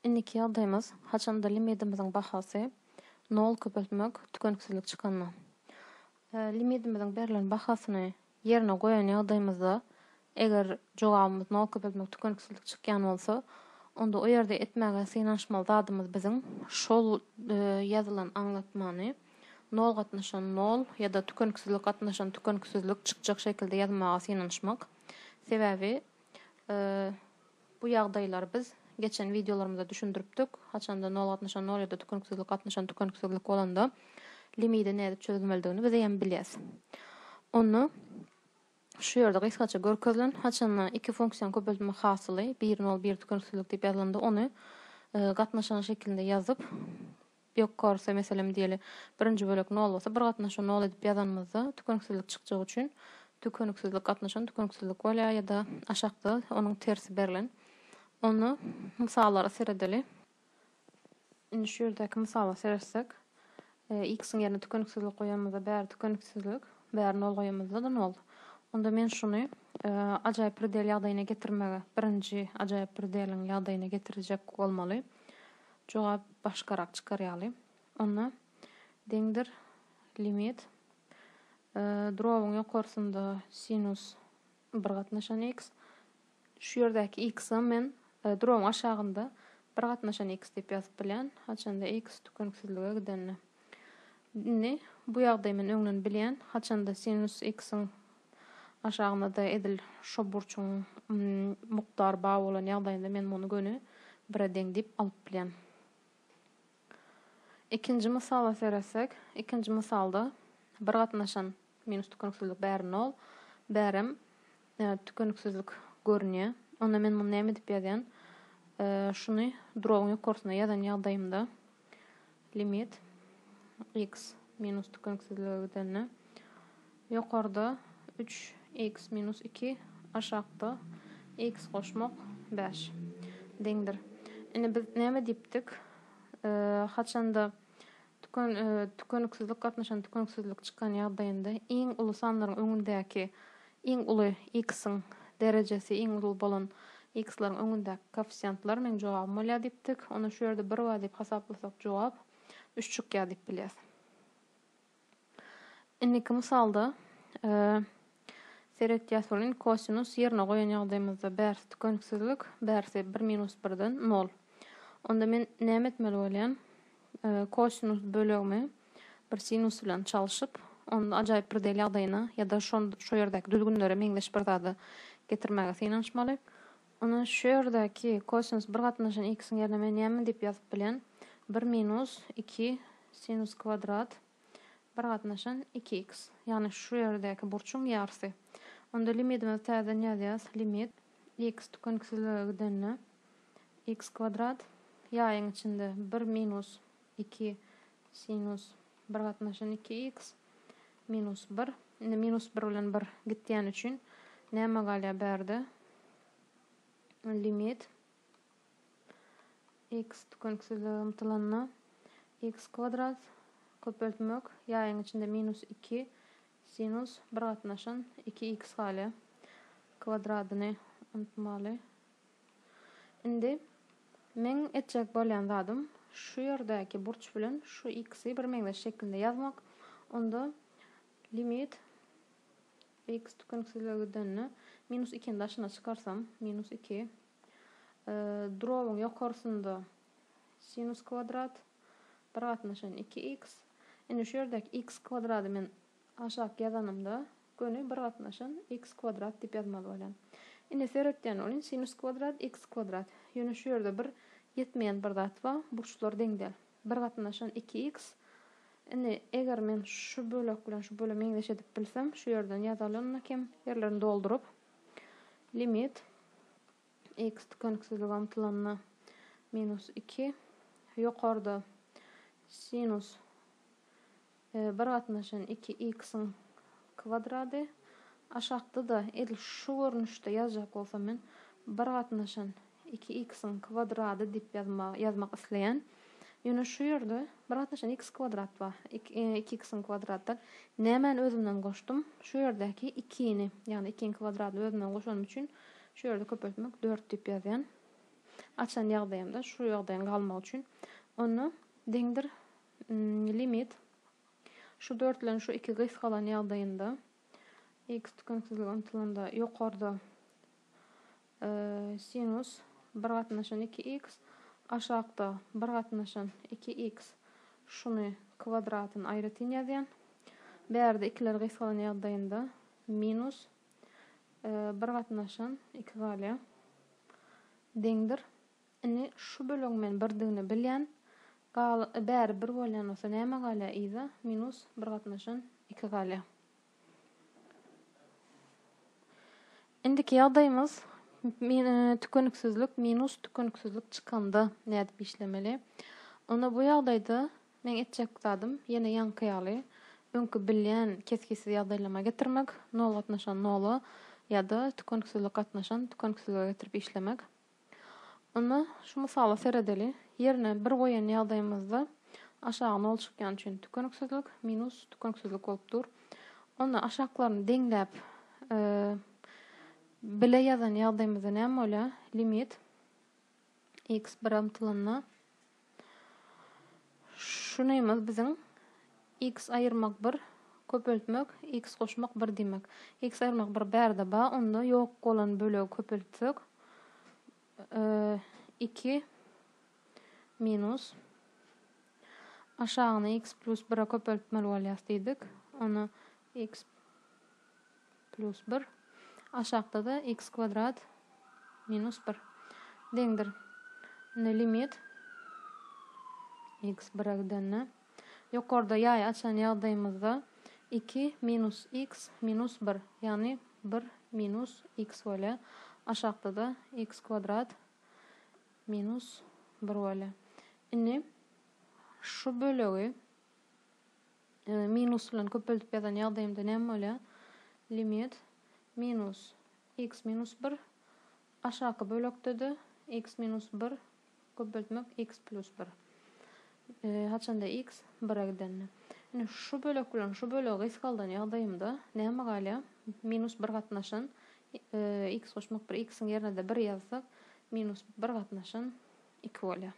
Indiki ýagdaýymyz, haçanda limidimiziň bahasy nol köpeltmek tükeniksizlik çykanda. Limidimiziň berlen bahasyny ýerine goýan ýagdaýymyzda, eger jogabymyz nol köpeltmek tükeniksizlik çykýan bolsa, onda o ýerde etmäge synanyşmaly zadymyz biziň şol ýazylan aňlatmany nol gatnaşan nol ýa-da tükeniksizlik gatnaşan tükeniksizlik çykjak şekilde ýazmaga synanyşmak. Sebäbi Bu ýagdaýlary biz geçen wideolarymyzda düşündiripdik, haçanda nol gatnaşan nol ýa-da tükeniksizlik gatnaşan tükeniksizlik bolanda limidi nädip çözmelidigini biz eýýäm bilýäs. Onda şu ýerde gysgaça görkezilen haçanda iki funksiýanyň köpeltme hasyly bir nol bir tükeniksizlik diýip ýazylanda ony gatnaşan şekilinde ýazyp, Ýok korse meselem diýeli birinji bölek nol bolsa bir gatnaşa nol edip ýazanymyzda tükeniksizlik çykjagy üçin tükeniksizlik gatnaşan tükeniksizlik bolýar ýa-da aşakda onuň tersi berlen. Onda mysallara seredeli. Indi şu ýerdäki mysala seretsek x-iň ýerine tükeniksizlik goýanymyzda bäri tükeniksizlik bäri nol goýanymyzda-da nol. Onda men şuny ajaýyp predel ýagdaýyna getirmegi birinji ajaýyp predeliň ýagdaýyna getirjek bolmaly. Jogap başgarak çykar ýaly. Onda deňdir limit drobuň ýokarsynda sinus bir gatnaşan x, şu ýerdäki x-a men drobuň aşagynda bir gatnaşan x diýip ýazyp bilýän, haçanda x tükeniksizlige gidende. Indi bu ýagdaýy men öňden bilýän, haçanda sinus x-iň Aşagynda-da edil şo burçuň mukdary bar bolan ýagdaýynda men muny göni bire deň diýip alyp bilýän. Ikinji mysala seretsek, ikinji mysalda bir gatnaşan minus tükeniksizlik bäri nol, bärem tükeniksizlik görünýär. Onda men muny näme diýip ýazýan? Şuny drobyň ýokarsyna ýazan ýagdaýymda Limit x minus tükeniksizlige gidende ýokarda üç x minus iki aşakda x goşmak bäş deňdir. Indi biz näme diýipdik? Haçanda tüken tükeniksizlik gatnaşan tükeniksizlik çykan ýagdaýynda iň uly sanlaryň öňündäki Iň uly x-iň derejesi iň uly bolan x-laryň öňündäki koeffisiýentler, meň jogabym bolýar diýipdik. Onda şu ýerde bir bar diýip hasaplasak jogap üç çykýar diýip bilýäs. Indiki mysalda seretýäs welin kosinus ýerine goýan ýagdaýymyzda bärsi tükeniksizlik, bärsi bir minus birden nol. Onda men näme etmeli bolýan? Kosinus bölegimi bir sinus bilen çalşyp, ony ajaýyp bir del ýagdaýyna ýa-da şol şo ýerdäki düzgünlere meňzeş bir zada getirmäge synanyşmaly. Ony şu ýerdäki kosinus bir gatnaşan x-iň ýerine men näme diýip ýazyp bilen? Bir minus iki sinus kwadrat bir gatnaşan iki x. Ýagny şu ýerdäki burçuň ýarsy. Onda limitimizi täzeden ýazýas. Limit x tükeniksizlige gidende x kwadrat ýaýyň içinde bir minus. Iki sinus bir gatnaşan iki iks minus bir. Indi minus bir bilen bir gitýäni üçin näme galýar bärde? Limit iks tükeniksizlige ymtylanda iks kwadrat köpeltmek ýaýyň içinde minus iki sinus bir gatnaşan iki iks galýar. Kwadradyny unutmaly. Indi meň etjek bolýan zadym şu ýerdäki burç bilen şu ikisi birmeňzeş şekilde ýazmak. Onda limit x tükeniksizlige gidende minus ikini daşyna çykarsam, minus iki. Drobyň ýokarsynda sinus kwadrat bir gatnaşan iki x. Indi şu ýerdäki x kwadrady men Aşak ýazanymda göni bir gatnaşan x kwadrat diýip ýazmaly bolýan. Ine seretýän bolýn sinus kwadrat x kwadrat. Ýöne şu ýerde bir ýetmeýän bir zat ba, burçlar deň däl. Bir gatnaşan iki x. Indi eger men şu bölek bilen şu bölegi meňzeş edip bilsem, şu ýerden ýazalyna kem ýerlerini dolduryp, limit x tükeniksizlige ymtylanda minus iki, ýokarda sinus Bir gatnaşan iki x-iň kwadrady. Aşakda-da edil şu görnüşde ýazjak bolsam men bir gatnaşan iki x-iň kwadrady diýip ýazmak isleýän. Ýöne şu ýerde bir gatnaşan x kwadrat bar. Iki x-iň kwadrady däl. Nämäni özümden goşdum? Şu ýerdäki ikini, ýagny ikiň kwadradyny özümden goşanym üçin şu ýerde köpeltmek dört diýip ýazýan. Açan ýagdaýymda şu ýagdaýyň galmagy üçin. Onda deňdir. Limit şu dörtlen şu iki gysgalan ýagdaýynda x tükeniksizlige ymtylanda ýokarda e, sinus bir gatnaşan iki x aşakda bir gatnaşan iki x şuny kwadratyn aýratyn ýazýan. Bärde ikiler gysgalan ýagdaýynda minus e, bir gatnaşan iki galýar. Deňdir. Indi şu bölegi men birdigini bilýän. Gal bäri bir bolýan bolsa näme galýar yza minus bir gatnaşan iki galýar. Indiki ýagdaýymyz tükeniksizlik minus tükeniksizlik çykanda nädip işlemeli? Onda bu ýagdaýda meň etjek zadym ýene ýaňky ýaly öňki bilýän kesgitsiz ýagdaýlama getirmek, nol gatnaşan nola ýa-da tükeniksizlik gatnaşan tükeniksizlige getirip işlemek. Indi şu mysala seredeli. Ýerine bir goýan ýagdaýymyzda aşagy nol çykýan üçin tükeniksizlik, minus tükeniksizlik bolup dur. Onda aşaklaryny deňläp bile ýazan ýagdaýymyzda näme bolýar? Limit x bire ymtylanda Şu nymyz biziň X aýyrmak bir, köpeltmek, X goşmak bir diýmek. X aýyrmak bir bärde ba, onda ýok bolan bölegi köpeltsek, iki minus aşagyny X plus bire köpeltmeli bolýas diýdik. Ony X plus bir, aşakda-da X kwadrat minus bir deňdir. Indi limit X bire gidende, ýokarda ýaý açan ýagdaýymyzda iki minus X minus bir, ýagny bir minus X bolýar. Aşakda-da X kwadrat minus bir bolýar. Indi şu bölegi. Minus bilen köpeldip ýazan ýagdaýymda näme bolýar? Limit minus x minus bir aşaky bölekde-de x minus bir köpeltmek x plus bir. Haçanda x bire gidende. Indi şu bölek bilen şu bölegi gysgaldan ýagdaýymda näme galýar? Minus bir gatnaşyn x goşmak bir x-iň ýerine-de bir ýazsak minus bir gatnaşyn iki bolýar.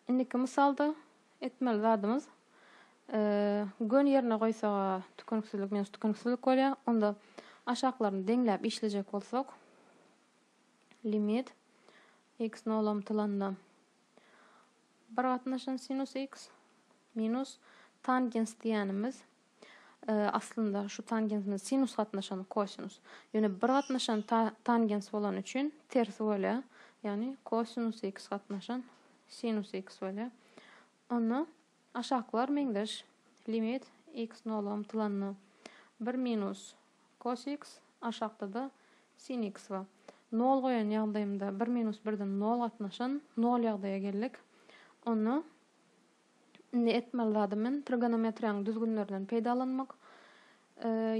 Indiki mysalda etmeli zadymyz göni ýerine goýsak a tükeniksizlik minus tükeniksizlik bolýar. Onda aşaklaryny deňläp işlejek bolsak limit x nola ymtylanda bir gatnaşan sinus x minus tangens diýenimiz Aslynda şu tangens bilen sinus gatnaşan kosinus. Ýöne bir gatnaşan tangens bolany üçin tersi bolýar. Ýagny kosinus x gatnaşan sinus x bolýar. Onda aşakylar meňzeş. Limit x nola ymtylanda bir minus kos x aşakda-da sin x bar. Nol goýan ýagdaýymda bir minus birden nol gatnaşan nol ýagdaýa geldik. Onda Indi etmeli zady men trigonometriýanyň düzgünlerinden peýdalanmak.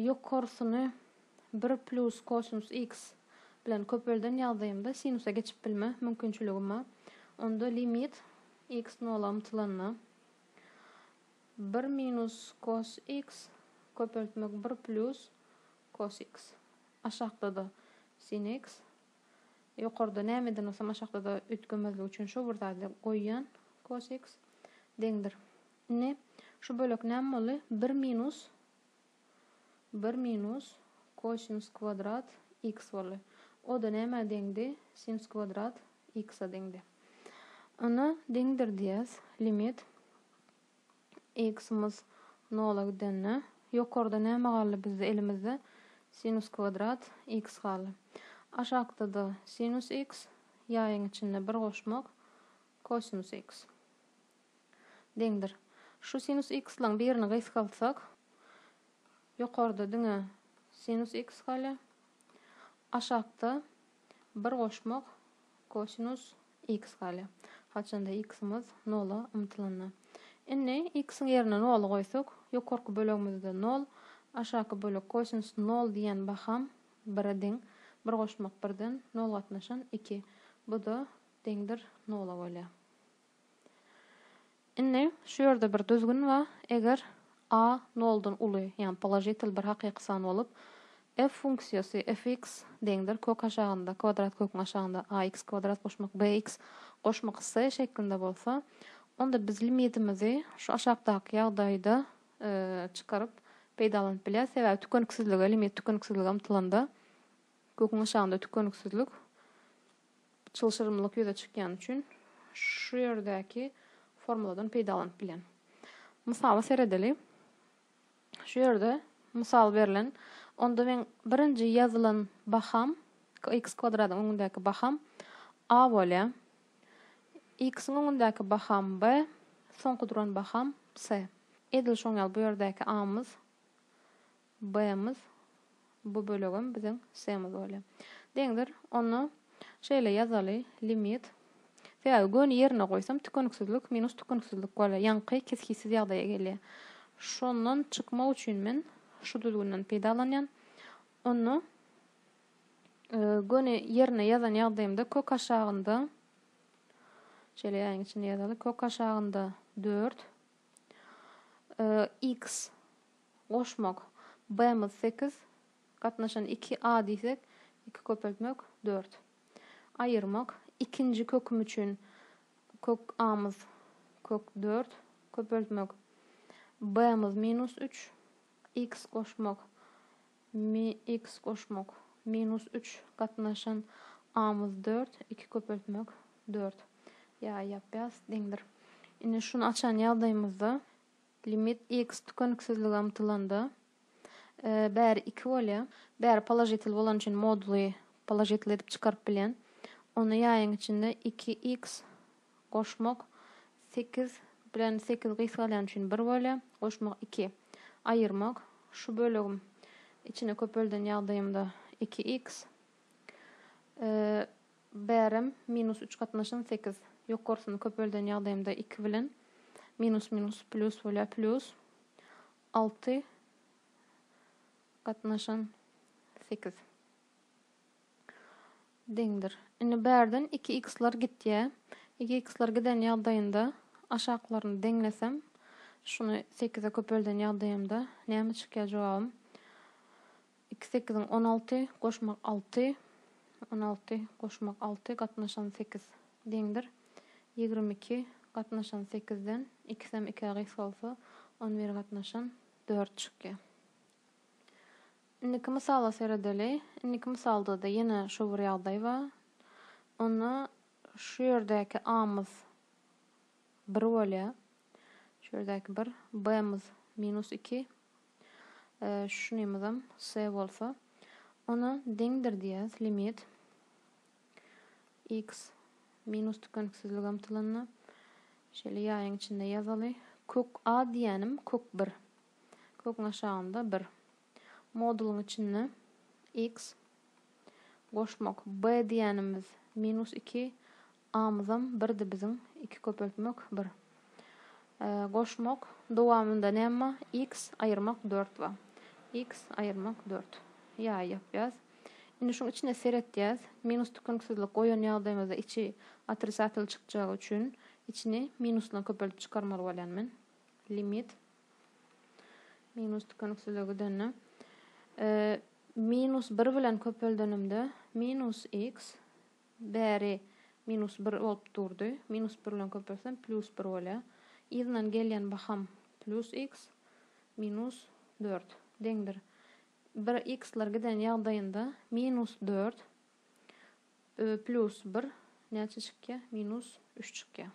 Ýokarsyny bir plus kosinus x bilen köpelden ýagdaýymda sinusa geçip bilme mümkinçiligim bar. Onda limit x nola ymtylanda bir minus kos x köpeltmek bir plus kos x aşakda-da sin x Ýokarda nämeden bolsam aşakdada üýtgemezlik üçin şo bir zady goýýan cos x deňdir. Indi şu bölek näme boldy? Bir minus bir minus kosinus kwadrat x boldy. O-da nämä deňdi? Sinus kwadrat x-a deňdi. Ony deňdir diýýäs. Limit X-imiz nola gidende, ýokarda näme galdy bizde elimizde? Sinus kwadrat x galdy. Aşakda-da sinus x, ýaýyň içinde bir goşmak, kosinus x. Deňdir. Şu sinus x-laň birini gysgaltsak, ýokarda diňe sinus x galýar. Aşakda bir goşmak, Kosinus x galýar. Haçanda x-imiz nola ymtylanda. Indi x-iň ýerine noly goýsak, ýokarky bölegimizde nol, aşaky bölek kosinus nol diýen baham bire deň. Bir goşmak birden nol gatnaşan iki. Bu-da deňdir nola bolýar. Indi şu ýerde bir düzgün ba, eger a noldan uly, ýagny položitel bir hakyky san bolup, f funksiýasy fx deňdir kök aşagynda, kwadrat köküň aşagynda ax kwadrat goşmak bx goşmak s şeklinde bolsa, onda biz limitimizi şu aşakdaky ýagdaýda çykaryp peýdalanyp bilýäs, sebäbi tükeniksizlige, limit tükeniksizlige ymtylanda, köküň aşagynda tükeniksizlik çylşyrymlylyk ýüze çykýany üçin şu ýerdäki formuladan peýdalanyp bilen. Mysala seredeli. Şu ýerde mysal berlen. Onda men birinji ýazylan baham x kwadradyň öňündäki baham a bolýar. X-iň öňündäki baham b, soňky duran baham c. Edil şoň ýaly bu ýerdäki a-myz B-miz, bu bölegem biziň C-miz bolýar. Deňdir. Onda şeýle ýazaly, limit, sebäbi göni ýerine goýsam tükeniksizlik minus tükeniksizlik bolýar, ýaňky kesgitsiz ýagdaýa gelýär. Şondan çykmak üçin men şu düzgünden peýdalanýan. Onda göni ýerine ýazan ýagdaýymda kök aşagynda, şeýle ýaýyň içinde ýazaly, kök aşagynda dört, x, Goşmak, B-miz sekiz, gatnaşan iki a diýsek, iki köpeltmek, dört. Aýyrmak, ikinji köküm üçin kök a-myz kök dört, köpeltmek, B-miz minus üç, X goşmak, mi X goşmak, minus üç, gatnaşan a-myz dört, iki köpeltmek, dört. Ýa ýap-ýas, deňdir. Indi şuny açan ýagdaýymyzda. Limit x tükeniksizlige ymtylanda bäri iki bolýar. Bäri položitel bolany üçin moduly položitel edip çykaryp bilýän. Ony ýaýyň içinde iki x goşmak sekiz bilen sekiz gysgalýany üçin bir bolýar. Goşmak iki. Aýyrmak şu bölegim içine köpelden ýagdaýymda iki x. Bärem minus üç gatnaşan sekiz. Ýokarsyny köpelden ýagdaýymda iki bilen minus minus plýus bolýar, plýus alty gatnaşan sekiz deňdir. Indi bärden iki x-lar gitýär. Iki x-lar giden ýagdaýynda aşaklaryny deňlesem, şuny sekize köpelden ýagdaýymda näme çykýar jogabym? Iki sekiziň on alty goşmak alty, on alty goşmak alty gatnaşan sekiz, deňdir. Ýigrimi iki gatnaşan sekizden ikisem ikä gysgalsa, on bir gatnaşan dört çykýar. Indiki mysala seredeli. Indiki mysalda-da ýene şu bir ýagdaý bar. Onda şu ýerdäki A-myz bir bolýar. Şu ýerdäki bir. B-myz minus iki. Şunymyzam S bolsa. Ona deňdir diýýäs limit x minus tükeniksizlik ymtylyna. Şeýle ýaýyň içinde ýazaly. Kök a diýýänim kök 1. Köküň aşagynda 1. Modulyň içinde x goşmak b diýýänimiz minus 2 Amyzam birdi biziň, iki köpeltmek, bir. Goşmak, dowamynda näme bar? X aýyrmak dört bar. X aýyrmak dört. Ýaý ýapýas. Indi şuň içine seretýäs. Minus tükeniksizlik goýan ýagdaýymyzda içi otrisatel çykjagy üçin içini minus bilen köpeltip çykarmaly bolýan men. Limit minus tükeniksizlige gidende minus bir bilen köpeldenimde minus x bäri minus bir bolup durdy. Minus bir bilen köpeltsem plýus bir bolýar. Yzyndan gelýän baham plýus iks minus dört deňdir. Bir iksler giden ýagdaýynda minus dört plýus bir näçe çykýar? Minus üç çykýar.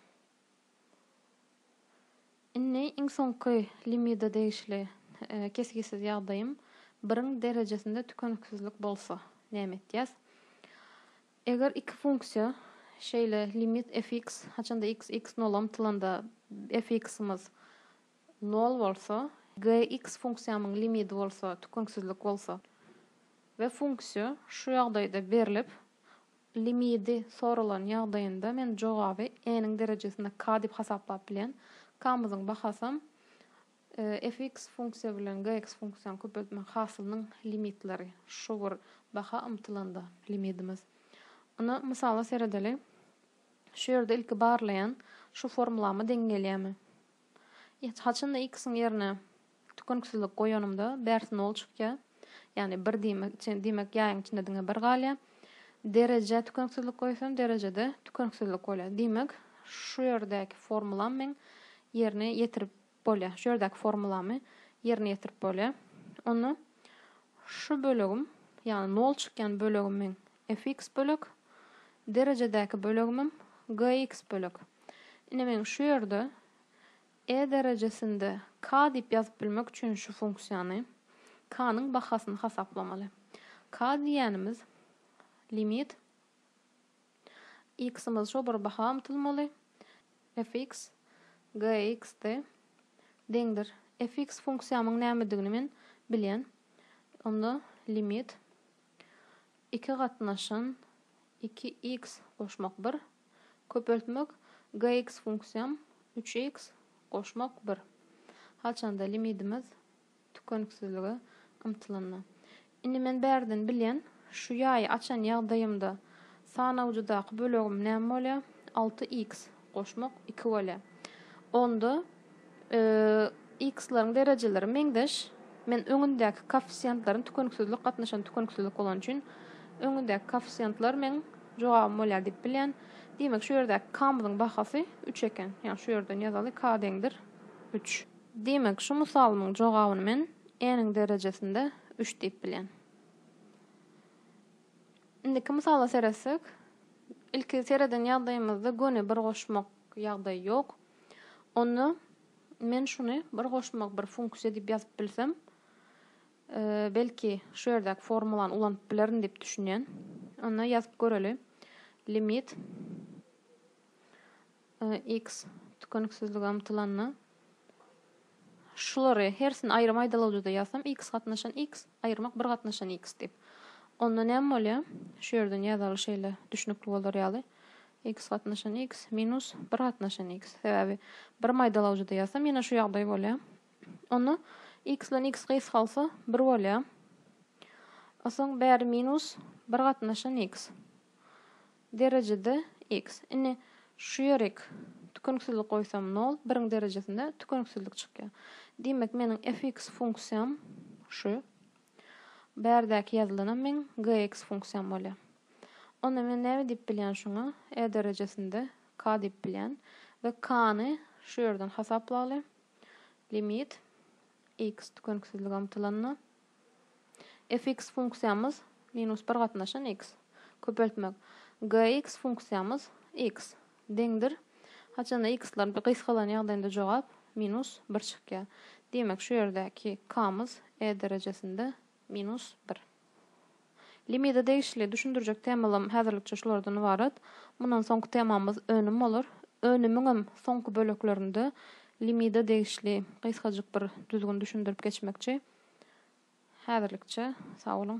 Indi iň soňky limida degişli kesgitsiz ýagdaýym biriň derejesinde tükeniksizlik bolsa näme etýäs? Eger iki funksiýa şeýle limit fx haçanda x x nola ymtylanda fx-imiz nol bolsa, gx funksiýamyň limidi bolsa tükeniksizlik bolsa we funksiýa şu ýagdaýda berlip, Limidi soralan ýagdaýynda men jogaby n-iň derejesinde k diýip hasaplap bilýän. K-myzyň bahasam fx funksiýa bilen gx funksiýany köpeltmek hasylynyň limitleri. Şu bir baha ymtylanda limidimiz. Ynha, mysala seredeli. Şu ýerde ilki barlaýan, şu formulama deň gelýärmi? Ýa-da haçanda X-iň ýerine tükeniksizlik goýanymda bärsi nol çykýar. Ýagny bir diýmek içi, diýmek ýaýyň içinde diňe bir galýar. Derejä tükeniksizlik goýsam, derejede tükeniksizlik bolýar. Diýmek, şu ýerdäki formulam meň ýerine ýetirip bolýar. Şu ýerdäki formulamy ýerine ýetirip bolýar. Onda şu bölegim, ýagny nol çykýan bölegim meň Fx bölek derejedäki bölegimem Gx bölek. Ine men şu ýerde E derejesinde K diýip ýazyp bilmek üçin şu funksiýany, K-nyň bahasyny hasaplamaly. K diýýänimiz limit X-imiz şo bir baha ymtylmaly, Fx Gx-de deňdir. Fx funksiýamyň nämedigini men bilýän. Onda limit Iki gatnaşyn, iki x goşmak bir. Köpeltmek GX funksiýam, üç x goşmak bir. Haçanda limidimiz tükeniksizlige ymtylanda. Indi men bärden bilýän, şu ýaýy açan ýagdaýymda sanawjydaky bölegim näme bolýar? Alty x. goşmak iki bolýa. Onda yy x-laryň derejeleri meňzeş. Men öňündäki koeffisiýentlaryň tükeniksizlik gatnaşan tükeniksizlik bolany üçin öňündäki koeffisiýentler meň jogabym bolýar diýip bilýän. Diýmek, şu ýerdäki k-myzyň bahasy üç eken. Ýagny şu ýerden ýazaly k deňdir üç. Diýmek, şu mysalymyň jogabyny men n-iň derejesinde üç diýip bilýän. Indiki mysala seretsek, ilki sereden ýagdaýymyzda göni bir goşmak ýagdaýy ýok. Onda men şuny bir goşmak bir funksiýa diýip ýazyp bilsem, belki şu ýerdäki formulany ulanyp bilerin diýip düşünýän. Onda ýazyp göreli. Limit X tükeniksizlige ymtylanda, şulary hersini aýrym aýdalawjyda ýazsam, X gatnaşan X, aýyrmak bir gatnaşan X diýip. Onda näme bolýar? Şu ýerden ýazaly şeýle düşnükli bolar ýaly, X gatnaşan X minus bir gatnaşan X. Sebäbi birim aýdalawjyda ýazsam, ýene şu ýagdaý bolýar. Onda X bilen X gysgalsa, bir bolýar. Onsoň bäri minus bir gatnaşan X. Derejede X. Indi şu ýerik tükeniksizlik goýsam nol, biriň derejesinde tükeniksizlik çykýar. Diýmek, meniň fx funksiýam şu. Bärdäki ýazylanam meň gx funksiýam bolýar. Onda men näme diýip bilýän şuňa? E derejesinde k diýip bilýän we k-ny şu ýerden hasaplaly. Limit X tükeniksizlige ymtylanda. Fx funksiýamyz, minus bir gatnaşan x. Köpeltmek. Gx funksiýamyz, x, deňdir, haçanda x-ler gysgalan ýagdaýynda jogap, minus bir çykýar. Diýmek, şu ýerdäki k-myz e derejesinde minus bir. Limide degişli düşündirjek temalarym häzirlikçe şulardan ybarat. Mundan soňky temamyz önüm bolar. Önümiňem soňky böleklerinde limide degişli gysgajyk bir düzgün düşündirip geçmekçi. Häzirlikçe sag boluň.